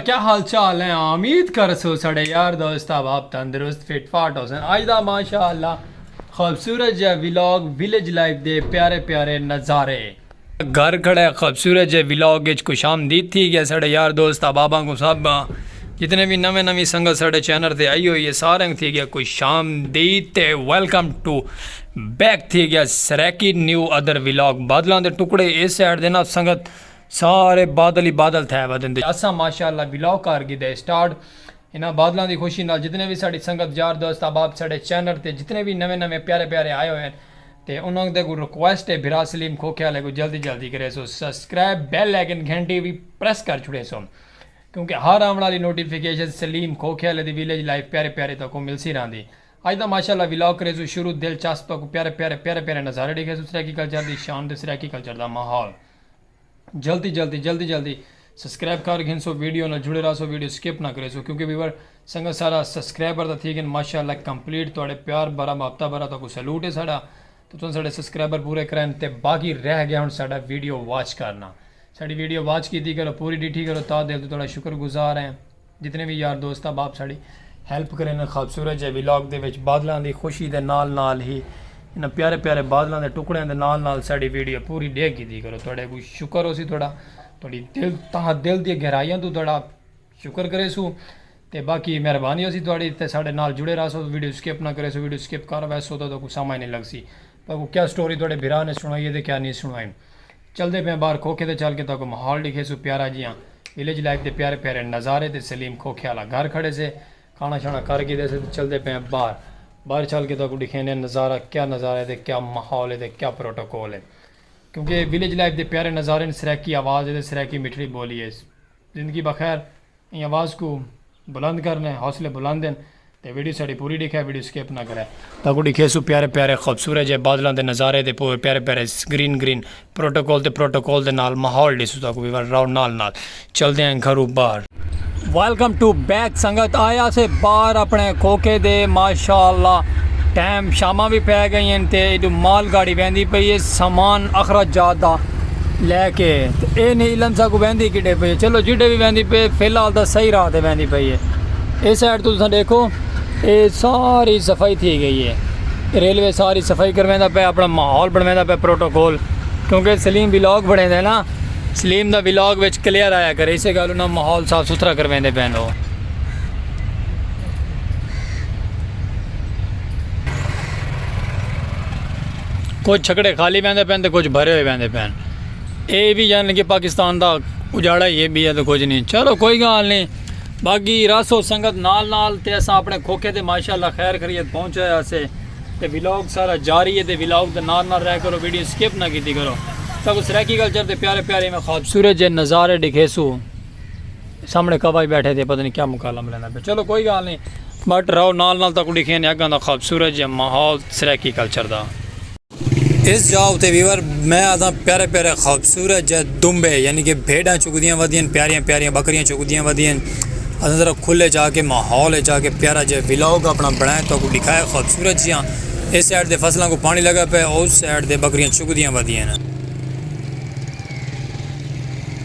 کیا حال چال ہیں امید کرسو سڑے یار دوست احباب تندرست فٹ فاٹ ہوسن اج دا ماشاءاللہ خوبصورت جے ولاگ ویلیج لائف دے پیارے پیارے نظارے گھر کھڑے خوبصورت جے ولاگ اچ خوش آمدید تھی گیا سڑے یار دوست احباباں کو سب جتنے بھی نویں نویں سنگت سڑے چینل تے آئی ہوئی ہے سارے کو تھی گیا خوش آمدید تے ویلکم ٹو بیک تھی گیا سریکی نیو ادر ولاگ بادلاں دے ٹکڑے اس سائیڈ دے نا سنگت سارے بادل ہی بادل تھے ودن تے اساں ماشاءاللہ ولاگ کر گھدے سٹارٹ انہاں بادلاں دی خوشی نال جتنے وی ساڈی سنگت یار دوست احباب ساڈے چینل تے جتنے وی نویں نویں پیارے پیارے آئے ہوئے ہن تے انہاں دے کوں ریکویسٹ ہے بھرا سلیم کھوکھے آلے کوں جلدی جلدی کریسو سبسکرائب بیل آئیکن گھنٹی وی پریس کر چھڑیسو کیونکہ ہر آون آلی نوٹیفیکیشن سلیم کھوکھے آلے دی ویلیج لائف پیارے پیارے تکوں ملسی رہندی اج دا ماشاءاللہ ولاگ کریسو شروع دلچسپ تکوں پیارے پیارے پیارے پیارے نظارے ڈیکھیسو سرائیکی کلچر دی شان تے سرائیکی کلچر دا ماحول۔ جلدی جلدی جلدی جلدی سبسکرائب کر گھنسو ویڈیو نال جڑے رہسو ویڈیو سکپ نہ کریسو کیونکہ ویور سنگت سارا سبسکرائبر دا تھی گن ماشاءاللہ کمپلیٹ تواڈے پیار بھرا محبتہ بھرا تو کو سلوٹ ہے ساڈا تو تساں ساڈے سبسکرائبر پورے کرائن تے باقی رہ گیا ہن ساڈا ویڈیو واچ کرنا ساڈی ویڈیو واچ کیتی کرو پوری ڈیٹھی کرو تا دل تو تواڈا شکر گزار ہیں جتنے وی یار دوست احباب ساڑی ہیلپ کرے نے خوبصورت جے ولاگ دے وچ بادلاں دی خوشی دے نال نال ہی انہاں پیارے پیارے بادلاں دے ٹکڑیاں دے نال نال ساڑی ویڈیو پوری ڈیکھ گھدی کرو تہاڈے کوئی شکر ہوسی تہاڈا تہاڈی دل تہاں دل دی گہرائیاں تو تہاڈا شکر کرے سو تے باقی مہربانی ہوسی تہاڈی تے ساڑے نال جڑے رہا سو ویڈیو سکپ نہ کرے سو ویڈیو سکپ کر ویسو تو کوئی سمجھ نہیں لگسی تو کوئی کیا سٹوری تہاڈے بھرا نے سنائی ہے تے کیا نہیں سنائی۔ چلدے پیاں ٻاہر کھوکھے تے چل کے تہاکوں ماحول ݙکھیسوں پیارا جیہاں ولیج لائف دے پیارے پیارے نظارے تے سلیم کھوکھے آلا گھر کھڑے سے کھانا شانا کر گھدے سے تے چلدے پیاں ٻاہر ٻاہر چل کے تہاکوں ݙکھیندیاں نظارہ کیا نظارہ ہے تے کیا ماحول ہے تے کیا پروٹوکول ہے کیونکہ ولیج لائف دے پیارے نظارے ہن سرائیکی آواز ہے تے سرائیکی مٹھڑی ٻولی ہے اس زندگی بخیر ایں آواز کوں بلند کر نے حوصلے بلند ہن تے ویڈیو ساڈی پوری ڈیکھے ویڈیو سکپ نہ کرے۔ تاکوں ڈیکھیسوں پیارے پیارے خوبصورت جے بادلاں دے نظارے تے پورے پیارے پیارے گرین گرین پروٹوکول تے پروٹوکول دے نال ماحول ڈیسوں تاکوں وی ول راؤ نال نال چلدے ہیں گھروں باہر۔ ویلکم ٹو بیک سنگت آئے آسے باہر اپنے کھوکھے دے ماشاءاللہ ٹائم شاماں وی پے گئین تے ایڈو مال گاڑی ویندی پئی ہے سامان اخراجات دا۔ لے کے تے اے نی علم ساکوں ویندی کڈھے پئی ہے چلو جڈے وی ویندی پئی ہے فی الحال تاں صحیح راہ تے ویندی پئی ہے اے سائیڈ توں تساں ڈیکھو اے ساری صفائی تھی گئی ہے ریلوے ساری صفائی کرویندا پئے اپنا ماحول بنویندا پئے پروٹوکول کیونکہ سلیم ولاگ بنیدا ہے نا سلیم دا ولاگ وچ کلیئر آیا کرے اسے گل انہاں ماحول صاف ستھرا کرویندے پئے نو کجھ چھکڑے خالی ویندے پین تے کجھ بھرے ہوئے ویندے پین اے وی یعنی کہ پاکستان دا اجاڑا ہی ہے بی ہے تو کچھ نہیں چلو کوئی گال نہیں باقی راسو سنگت نال نال تے اساں اپنے کھوکھے تے ماشاءاللہ خیر خرید پہنچے اسے تے ویلاگ سارا جاری ہے تے ویلاگ دے نال نال رہ کرو ویڈیو سکپ نہ کیتی کرو تاکہ سرائیکی کلچر تے پیارے پیارے میں خوابصورت جے نظارے ڈکھے سو سامنے کعبہ بیٹھے تھے پتہ نہیں کیا مکالم لینا پہ چلو کوئی گال نہیں بٹ راو نال نال تک لکھے نے اگاں دا خوبصورت جے ماحول سریکی کلچر دا اس جاؤ تے ویور میں آدھا پیارے پیارے خوبصورت جے دمبے یعنی کہ بھیڑاں چکدیاں ودیاں پیاریاں پیاریاں بکریاں چکدیاں ودیاں اصل ذرا کھلے جا کے ماحول جا کے پیارا جے ولاگ اپنا بنائے تو کوئی لکھائے خوبصورت جیاں اس سائڈ دے فصلوں کو پانی لگا پہ اس سائڈ دے بکریاں چکدیاں ودیاں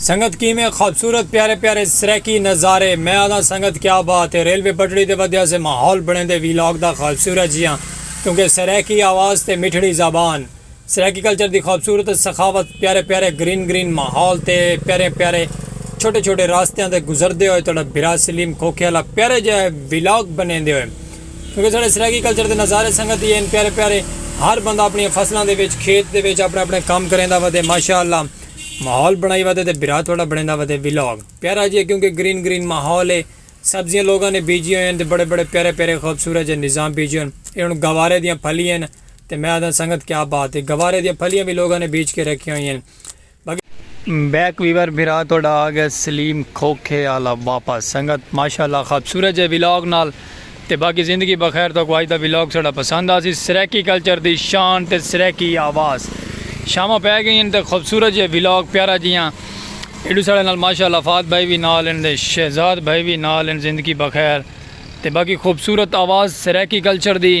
سنگت کیویں خوبصورت پیارے پیارے سریکی نظارے میں آدھا سنگت کیا بات ہے ریلوے پٹڑی دے ودیا سے ماحول بنے دے ویلاگ دا خوبصورت جیاں کیونکہ سریکی آواز تے مٹھڑی زبان سرائیکی کلچر دی خوبصورت سخاوت پیارے پیارے گرین گرین ماحول تے پیارے پیارے چھوٹے چھوٹے راستیاں تے گزردے ہوئے تہاڈا بھرا سلیم کھوکھے آلا پیارا جیہا ولاگ بنیندے ہوئے کیونکہ ساڈے سرائیکی کلچر دے نظارے سنگت ہی ہن پیارے پیارے ہر بندہ اپنیاں فصلاں دے وچ کھیت دے وچ اپنے اپنے کم کریندا ودے ماشاءاللہ ماحول بنائی ودے تے بھرا تہاڈا بنیندا ودے ولاگ پیارا جیہا کیونکہ گرین گرین ماحول ہے سبزیاں لوگاں نے بیجیاں ہوئیاں ہن تے بڑے بڑے پیارے پیارے خوبصورت جیہے نظام بیجے ہن اے ہن گوارے دیاں پھلیاں ہن۔ تے میں آہداں سنگت کیا بات ہے گوارے دیاں پھلیاں وی لوگاں نے بیج کے رکھیاں ہوئیاں ہن بقی۔ بیک ویور بھرا تہاڈا آ گیا سلیم کھوکھے آلا واپس سنگت ماشاءاللہ خبصورت جئے ولاگ نال تے باقی زندگی بخیر تہاکوں اج دا ولاگ ساڈا پسند آسی سرائیکی کلچر دی شان تے سرائیکی آواز شاماں پے گئیاں ہن تے خبصورت جئے ولاگ پیارا جیاں ایڈو ساڈے نال ماشاءاللہ فہد بھائی وی نال ہن تے شہزاد بھائی وی نال ہن زندگی بخیر تے باقی خبصورت آواز سرائیکی کلچر دی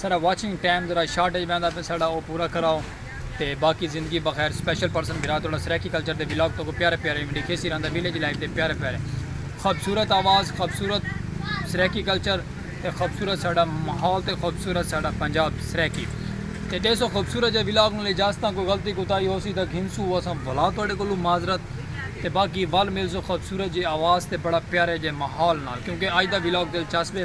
ساڈا واچنگ ٹائم ذرا شارٹ اچ ویندا پئے ساڈا او پورا کراؤ تے باقی زندگی بخیر اسپیشل پرسن بھرا تہاڈا سرائیکی کلچر دے ولاگ تہاکوں پیارے پیارے ایویں ڈیکھیسی رہندا ویلیج لائف دے پیارے پیارے خوبصورت آواز خوبصورت سرائیکی کلچر تے خوبصورت ساڈا ماحول تے خوبصورت ساڈا پنجاب سرائیکی تے ڈیسو خوبصورت جے ولاگ نال اجازتاں کوئی غلطی کوتاہی ہوسی تاں گھنسو اساں بھلا تہاڈے کولوں معذرت تے باقی ول ملسوں خوبصورت جے آواز تے بڑا پیارے جے ماحول نال کیونکہ اج دا ولاگ دلچسپ اے۔